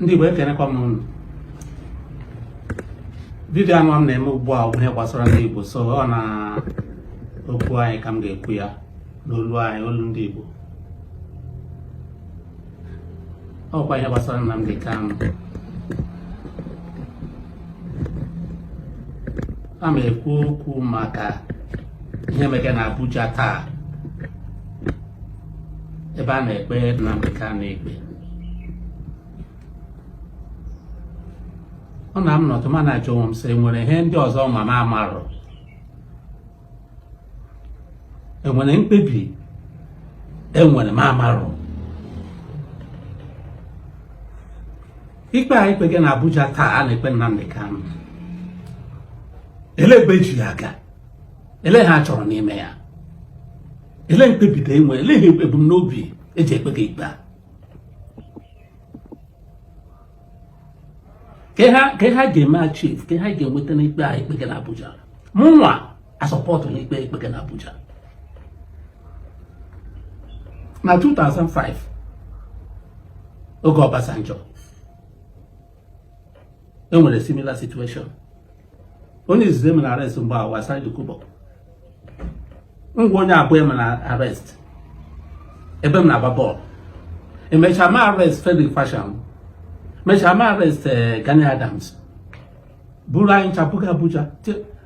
ndị Igbo ekenekwa m unu vidio a nwa m na-eme ugbu a bụ ihe gbasara ndị Igbo so ọ na okwu anyị ka m ga-ekwu ya n'olu anyị olu ndị Igbo ọkwa ihe gbasara Nnamdi Kanu a ma ekwu okwu maka ihe mege na Abuja taa ebe a na-ekpe Nnamdi Kanu ikpe ọ na m nọtụ ma na-ajụ onwe m sị enwere ihe ndị ọzọ ma m amarụ enwere mkpebi enwere m amarụ ikpe a ekpege na Abuja taa a na-ekpe Nnamdi Kanu ele ebe eji ya aga ele ihe a chọrọ n'ime ya ele mkpebite enwe ele ihe ebu n'obi eji ekpege ikpe a ke ha ga-eme achieve ke ha ga-enweta n'ikpe a ekpege na Abuja mụnwa asọpọtụ n'ikpe ekpege na Abuja na 2005 oge Obasanjo enwere similar situation onye izizi emere arrest bụ Asari Dokubo ngwa onye abụọ emere arrest ebe m na-agba bọọlụ emechaa ma arrest Frederick Fasehun mechaa ma arrest eh, Gani Adams buru anyị ncha buga Abuja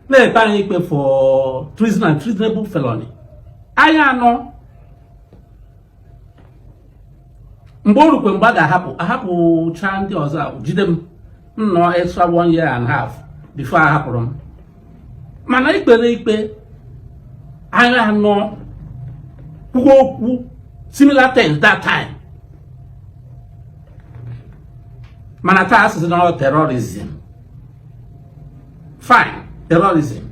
na-ekpe anyị ikpe for treason and treasonable felony anyị anọ mgbe o rukwe mgbe a ga-ahapụ ahapụcha ndị ọzọ ahụ jide m m nọọ extra one year and half before ahapụrụ m mana ekpere ikpe anyị anọ kwuo okwu similar things that time mana taa asị sị na ọ terrorism fine terrorism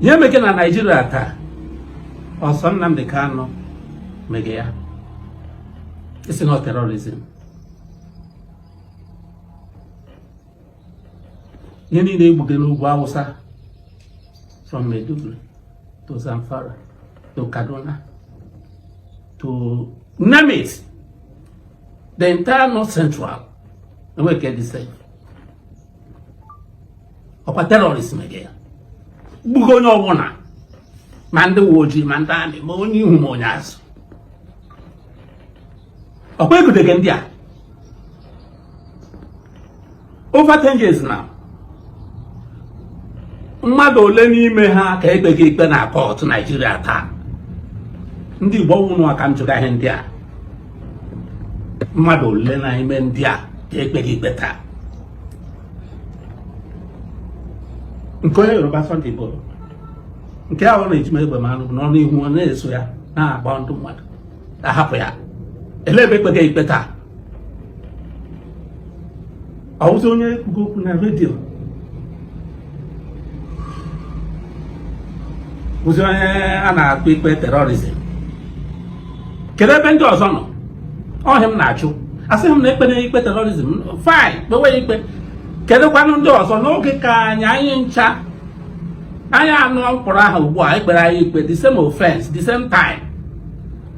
ihe mege na naijiria taa ọ sọ Nnamdi Kanu mege ya ị sị na terrorism ihe niile egbuge n'ugwu awụsa from Maiduguri to Zamfara to Kaduna to name it the entire north central enweghị ka dị sef ọkwa terọrist mege ya gbugo onye ọbụla ma ndị uwe ojii ma ndị amị ma onye ihu ma onye azụ ọkwa egudege ndị a over 10 years now mmadụ ole n'ime ha ka ekpege ikpe na kọtụ naijiria taa ndị igbo ọ wụ unu ka m jụga ihe ndị a mmadụ ole na ime ndị a ka ekpega ikpe taa nke onye Yoruba Sunday bụ nke ahụ na-eji m egbe ma anụ n'ọnụ ihu ọ na-eso ya na-agba ndị mmadụ ahapụ ya ele ebe ekpega ikpe taa ọwụzi onye kwugo okwu na redio bụzi onye a na-akpọ ikpe terrorism kedu ebe ndị ọzọ nọ ọ ihe m na-achọ asịghị m na ekpere ikpe terrorism fine kpewe ya ikpe kedụkwanụ ndị ọzọ n'oge ka anyị anyị ncha anyị anọ mkpọrọ ahụ ugbu a ekpere anyị ikpe the same offense the same time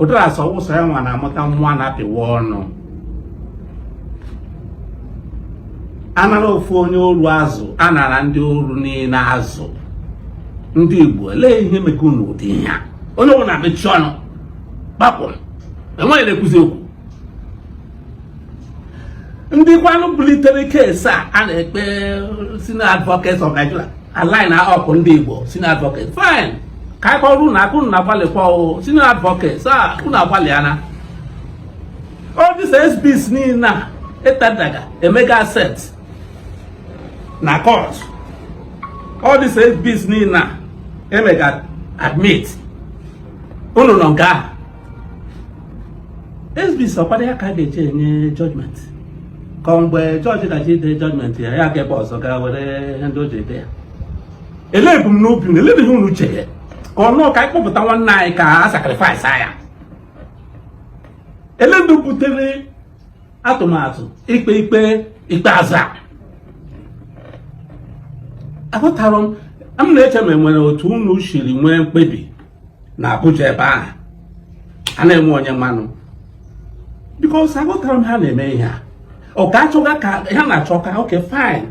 ụdara sị ọ wụ sọ ya nwa na-amụta nwa a na-apịwa ọnụ anara ofu onye oru azụ anara ndị oru niile azụ ndị Igbo lee ihe mega unu ụdị ihe a onye ọbụla mechie ọnụ kpapụ enweghị onye na-ekwuzi okwu ndị kwanụ bulitere case a a na-ekpe senior advocates of Nigeria ha niile ọkwa ndị Igbo senior advocates fine ka anyị kụọrọ unu aka unu na-agbalịkwa o senior advocates a unu agbalịana all these exhibits niile a etenderga emega accept na court all these exhibits niile a emega admit unu nọ nga ahụ exhibits ọkwado ya ka a ga-eji enye judgment ka mgbe judge ga-eji ide judgment ya ya ga ebe ọzọ gaa were ihe ndị o ji ede ya ele ebumnobi unu ele ihe unu chere ka ọ wụ ka anyị kpọpụta nwanne anyị ka a sacrifice ya ele ndị butere atụmatụ ikpe ikpe ikpeazụ a aghọtara m m na-eche ma enwere otu unu siri nwee mkpebi na Abuja ebe ahụ na-enweghị onye manụ because aghọtara m ha na-eme ihe a ọ ka achọga ka ha na-achọ ka okay fine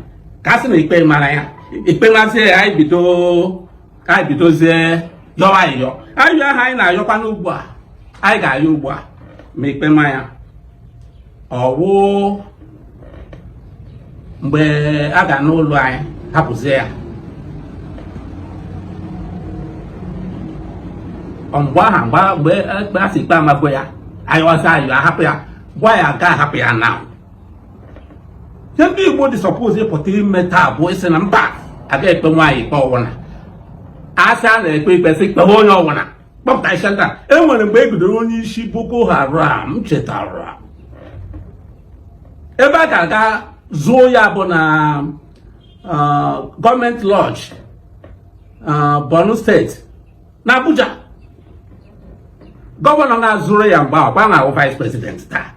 ka a sị na ikpe mara ya ikpe mazie ya anyị bido ka anyị bidozie yọwa ayịyọ ayịyọ ahụ anyị na-ayọkwa n'ugbu a anyị ga-ayọ ugbu a ma ikpe ma ya ọwụ mgbe a ga-anụrụ anyị hapụzie ya mgbe ahụ mgbe ekpe a sị ikpe amagwo ya ayọsịa ayọ ahapụ ya gwa ya ga ahapụ ya na ihe ndị Igbo dị suppose ịpụta ime taa bụ ịsị na mba agaghị ekpe nwanne anyị ikpe ọwụ na asị a na-ekpe ikpe sị kpewe onye ọwụna kpọpụta isi nta e nwere mgbe e gidere onye isi Boko Haram chetara ebe a ga-aga zuo ya bụ na uh, government lodge uh, Borno State na Abuja gọvanọ ga zuru ya mgbe ahụ kwa wụ vice president taa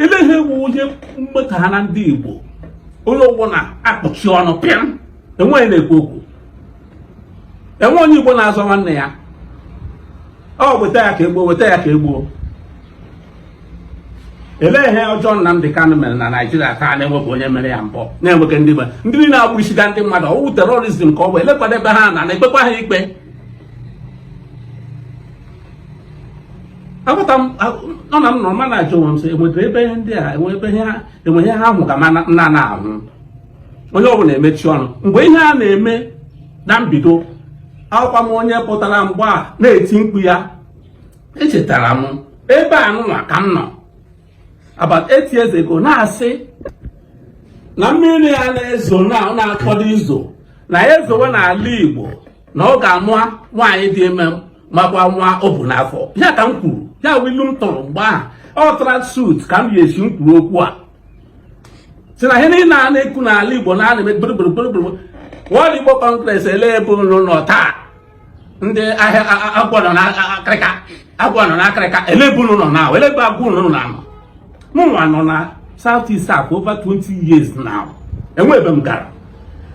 ele ihe wụ ihe mmekọ ha na ndị Igbo onye ọwụna akpọchi ọnụ pịam enweghị na-ekwu okwu enwe onye Igbo na-azọ nwanne ya ọ weta ya ka egbuo weta ya ka egbuo elee ihe ọjọọ Nnamdị Kanụ mere na Naịjirịa taa na-enwebụ onye mere ya mbụ na-enwekwa ndị ndị na-egbusiga ndị mmadụ ọ wụ terrorism ka ọ bụ elekwadebe ha na na-ekpekwa ha ikpe agbata m nọ na m nọrọ ma na-ajụ onwe m sị enwetara ebe ihe ndị a enwe ebe ihe ha enwe ihe ha hụ ka ma na- nna na-ahụ onye ọ bụla emechi ọnụ mgbe ihe a na-eme na mbido awụkwa m onye pụtara mgbe a na-eti mkpu ya echetara m ebe a nụnwa ka m nọ about eight years ago na-asị na mmiri a na-ezo na ọ na-akwado izo na ya ezowe n'ala Igbo na ọ ga-ama nwaanyị dị ime makwa nwa o bu n'afọ ya ka m kwuru ya wụ ilu m tụrụ mgbe ahụ ọ tara suit ka m yi si m kwuru okwu a si na ihe niile a na-ekwu n'ala Igbo na ana-eme gburugburu World Igbo Congress ele ebe unu nọ taa ndị a sị agwọ nọ n'akịrịka agwọ nọ n'akịrịka ele ebe unu nọ na ele ebe agwọ unu nọ na anọ mụnwa nọ na South East for over 20 years now enwe ebe m gara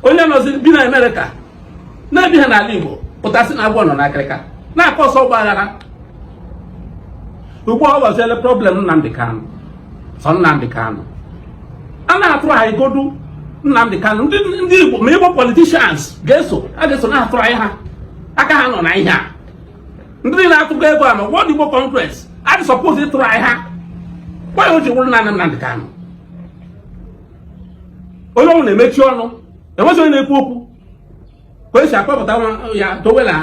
onye nọzi bi na Amerịka na-ebiha n'ala Igbo pụta sị na agwọ nọ n'akịrịka na-cause ọgba aghara ugbu a ọ bụziele problem Nnamdị Kanụ sọ Nnamdị Kanụ a na-try godu Nnamdị Kanụ ndị Igbo ma Igbo politicians ga-eso a ga-eso na-try ha aka ha nọ na ihe a ndị niile na-atụkọ ego a na World Igbo Congress a dị suppose ị try ha why o ji wụrụ naanị Nnamdị Kanụ onye ọwụna emechi ọnụ enweghị onye na-ekwu okwu ka esi akpọpụta ya dowe na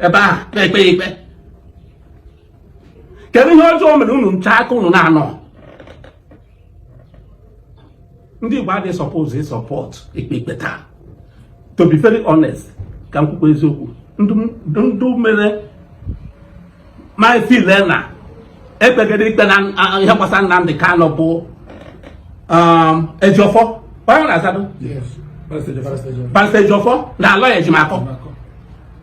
ebe ahụ na-ekpe ya ikpe kedu ihe ọjọọ o mere unu ncha aka unu na-anọ ndị Igbo a dị suppose suppose ikpe ikpe taa to be very honest ka m kwukwa eziokwu ndị me I feel na ekpegide ikpe na ihe gbasara Nnamdi Kanu bụ um, Ejiofor onye na-azado Barrister Ejiofor na Aloy Ejimakor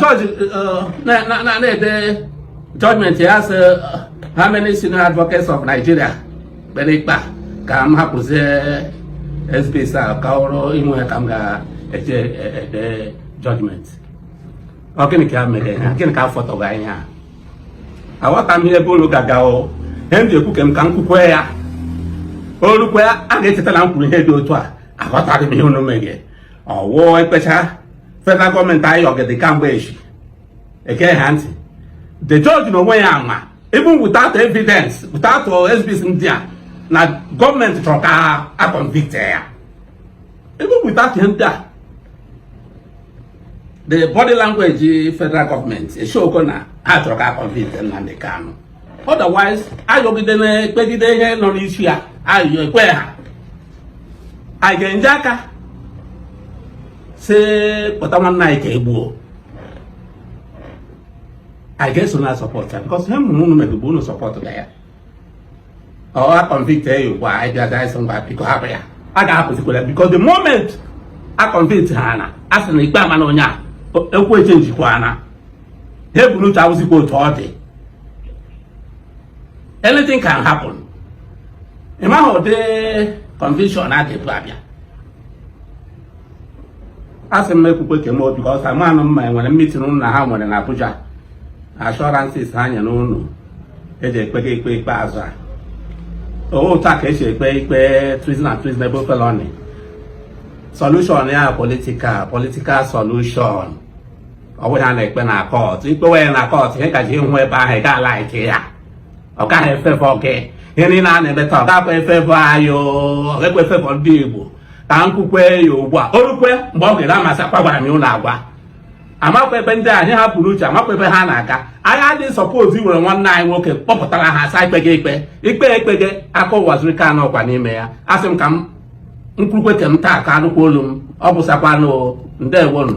judge na-ede judgment ya sị how many senior advocates of Nigeria kpere ikpe ka m hapụzie exhibits a ka ọrụ inwe ya ka m ga-eji ede judgment ọ gịnị ka mere ha gịnị ka afọtọghị anyị ha aghọta m ihe ebe unu ga-aga o ihe m ji ekwu ka m ka m kwukwe ya o rukwe a ga-echeta na m kwuru ihe dị otu a aghọtaghị m ihe unu meghe ọ wụ ekpecha federal government ayọgide kamgbe echi eke ha ntị the judge na onwe ya ama even without evidence without exhibits ndị a na government chọrọ ka a convict ya even without ihe ndị a the body language federal government eshoko na ha chọrọ ka a convict Nnamdi Kanu otherwise ayọgide na-ekpegide ihe nọ n'isi ya ayọ ekwe ha anyị ga-enye aka si kpọta nwanne anyị ka egbuo anyị ga-eso na-support ya because ihe m hụrụ unu meghe bụ unu support ga ya ọ a convict ya ugbu a anyị bịa gaa ịsị ngwa biko hapụ ya a ga-ahapụzikwara ya because the moment a convict ha na a sị na ikpe amana onye a okwu echenjikwana ihe e bu n'uche awụzikwa otu ọ dị anything can happen ị maghị ụdị conviction a ga-ebu abịa a sị m ekwukwe ke m because amaghị m ma e nwere meeting unu na ha nwere na Abuja assurances ha nyere unu eji ekpega ikpe ikpeazụ a ọ wụghị otu a ka esi ekpe ikpe treason and treasonable felony solution ya political political solution ọ bụghị ihe a na-ekpe na court i kpewe ya na court ihe ị ga-eje ịhụ ebe ahụ ị gaghị a-like ya ọ gaghị e-favour gị ihe niile a na-eme taa ọ gakwa e-favour anyị ọ gakwa e-favour ndị Igbo ka m kwukwe ya ugbu a o rukwe mgbe ọ ga-eru a m asị agwakwara m unu agwa amakwa ebe ndị anyị hapụrụ uche amakwa ebe ha na-aga anyị adịghị suppose were nwanne anyị nwoke kpọpụtara ha asa ikpe gị ikpe ikpe ekpe gị aka Uwazuruike anọkwa n'ime ya asị m ka m kwukwe ke m taa ka anụkwa olu m ọ bụsakwanụ ndewonu